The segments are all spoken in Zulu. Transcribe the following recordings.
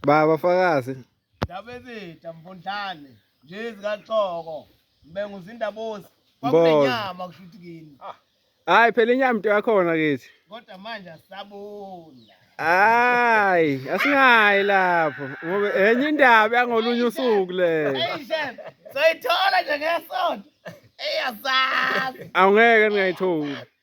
Baba fakazi. Ndaba ezitha mfondlane nje zikaxoko. Mbengu zindabosi. Kwakunenyama kushuthi kini. Ah. Hayi phela inyama into yakhona kithi. Kodwa manje asabona. Hayi, asingayi lapho. Ngoba enye indaba yangolunye usuku le. Hey chef, soyithola nje ngesonto. Eyazazi. Awungeke ngayithola.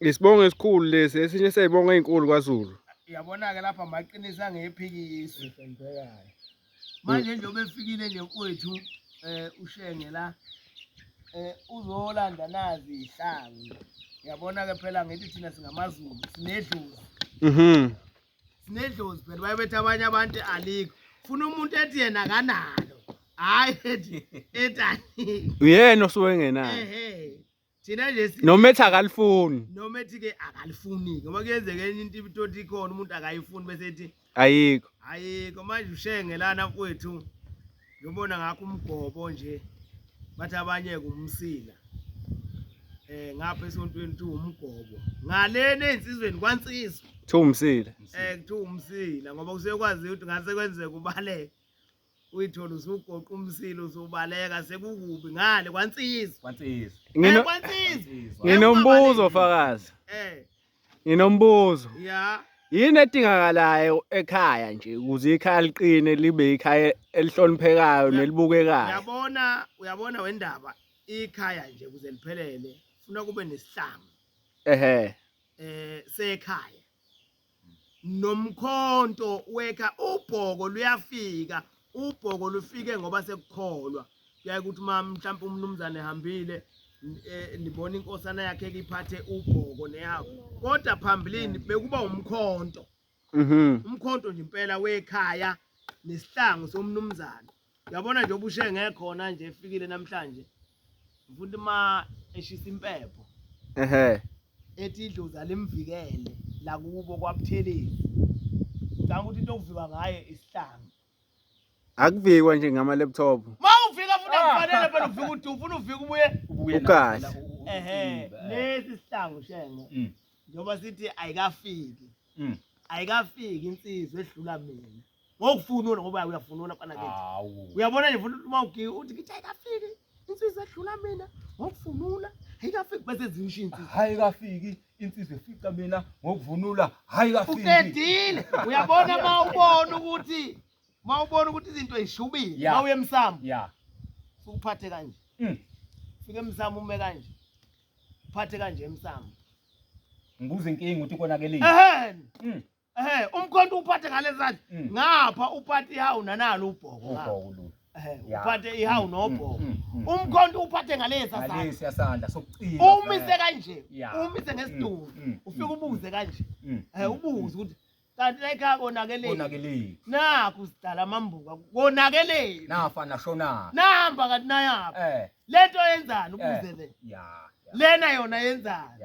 Isibongo esikhulu lesi esinye seyibongo ezinkulu kwaZulu. Yabona-ke lapha maqinisa ngephikisi. Manje nje obefikile nje kwethu eh ushenge la eh uzolanda nazi ihlangu. Yabona-ke phela ngithi thina singamaZulu sinedlozi. Mhm. Sinedlozi phela bayebethi abanye abantu alikho. Funa umuntu ethi yena akanalo. Hayi ethi ethi alikho. Uyena osuke engenayo. Ehhe. thina nje noma ethi akalifuni noma ethi ke akalifuni ngoba kuyenzeka enye into ibitoti ikhona umuntu akayifuni bese ethi ayikho ayikho manje ushenge lana mfowethu ngibona ngakho umgobo nje bathi abanye kumsila eh ngapha esontweni tu umgobo ngalena ensizweni kwansizwa kuthiwa umsila eh kuthiwa umsila ngoba kuseyokwazi ukuthi ngase kwenzeka ubaleke uyithola usugoqa umsila usubaleka sekukubi ngale kwansizwa kwansizwa ngino kwansizwa nginombuzo fakazi eh nginombuzo ya yini edingakalayo ekhaya nje ukuze ikhaya liqine libe ikhaya elihloniphekayo nelibukekayo uyabona uyabona wendaba ikhaya nje kuze liphelele funa kube nesihlangu ehe eh sekhaya nomkhonto weka ubhoko luyafika ubhoko lufike ngoba sekukholwa kuyaye ukuthi uma mhlawumpe umnumzane ehambile e, nibona inkosana yakhe kiphathe ubhoko nehawu kodwa phambilini bekuba umkhonto mhm. umkhonto nje impela wekhaya nesihlangu somnumzane Yabona nje ubushe ngekhona nje efikile namhlanje. Ngifuna uma eshisa impepho. Ehhe. Ethi idlozi alimvikele la kubo kwabuthelezi. Ngicabanga ukuthi into okuviwa ngayo isihlanga. Akuvikwa nje ngama laptop. Ma ufika futhi akufanele phela ufika uthi ufuna ufika ubuye Ubuye Ukahle. nawo phela, u- ehe ucimba. lesi sihlangu shenge Mm, njengoba sithi ayikafiki mm. ayikafiki insizwa edlula mina ngokufunula ngoba uyafunula fana ke uyabona nje futhi uma ugiye uthi ngithi ayikafiki insizwa edlula mina ngokufunula ayikafiki bese zisho insizwa hayi kafiki insizwa efica mina ngokuvunula hayi kafiki uqedile uyabona uma ubona ukuthi uma ubona ukuthi izinto zishubile uma uye emsamo ya ukuphathe kanje mm. fike emsamo ume kanje uphathe kanje emsamo ngibuza inkinga ukuthi konakelile ehhe mm. Eh umkhonto uphathe ngalezandla mm. ngapha uphathe ihawu nanalo ubhoko. Ubhoko lo. Eh uphathe ihawu mm, nobhoko. Mm, umkhonto uphathe ngalesa sandla. Ngalesa sandla sokucina. Umise eh. kanje. Umise ngesiduku. Ufika ubuze kanje. Eh ubuze ukuthi kanti layikhaya konakeleni konakeleni nakhu sidala amambuka konakeleni nafa nashonaphi nahamba kanti nayaphi eh. le nto yenzani ukuze eh. le lena yona yenzani